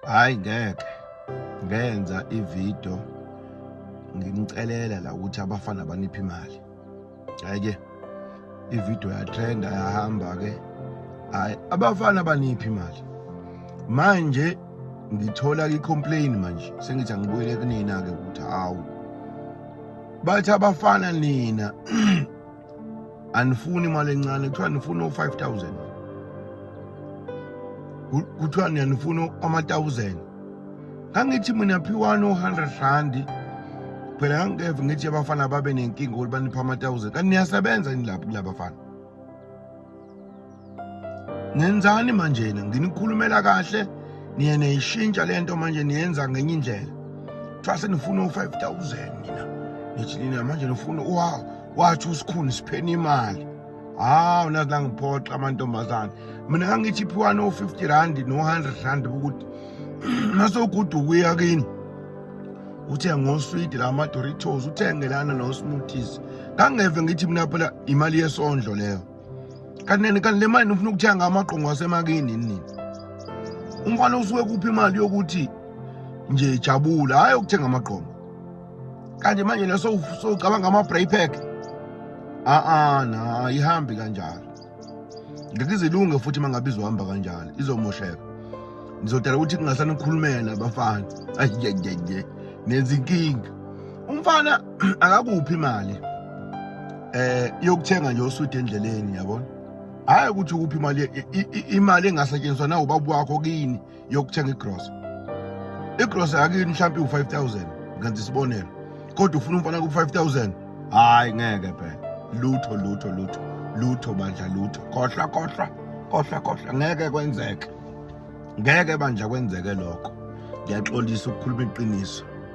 hayi ngeke ngenza ividiyo ngimcelela la ukuthi abafana baniphi imali hhayi-ke ividiyo yatrenda yahamba-ke hhayi abafana baniphi imali manje ngithola i-complain manje sengithi angibuyele kunina-ke ukuthi hawu bathi abafana nina anifuni imali encane kuthiwa nifuna o-five thousand kuthiwa niyanifuna ama-thousand ngangithi mina phiwani o-hundred randi phela ngangikeve ngithi abafana babe nenkinga ukuthi banipha ama-thousand kanti niyasebenza yini lapho kulabafana ngenzani manje na nginikhulumela kahle niye niyishintsha le nto manje niyenza ngenye indlela kuthiwa senifuna u-five thousand nina nithi nina manje nifuna wa wathi usikhuni sipheni imali hawu nazi la ngiphoxa amantombazane mina kangithi iphiwa no-fifty randi no-hundred randi ukuthi masoguda ukuya kini uthenge oswidi la madoritos uthenge lana nosmoothies kangeve ngithi mina phela imali yesondlo leyo kanti kanti le mali nifuna ukuthenga amagqongo asemakini nini umfana usuke kuphi imali yokuthi nje jabula hhayi ukuthenga amagqongo kanti manje le sowucabanga ama-bray pack a-a na ihambi kanjalo ngeke izilunge futhi uma ngabe izohamba kanjalo izomosheka ngizodala ukuthi kungasanikhulumela abafana ayiyeyeye nenza inkinga umfana akakuphi imali eh yokuthenga nje uswidi endleleni yabona hayi ukuthi ukuphi imali imali engasetshenziswa na ubaba wakho kini yokuthenga igrosa igrosa yakini mhlawumbe u5000 ngenza isibonelo kodwa ufuna umfana ku5000 hayi ngeke phela lutho lutho lutho lutho bandla lutho khohlwa khohlwa khohlwa khohlwa ngeke kwenzeke ngeke bandla kwenzeke lokho ngiyaxolisa ukukhuluma iqiniso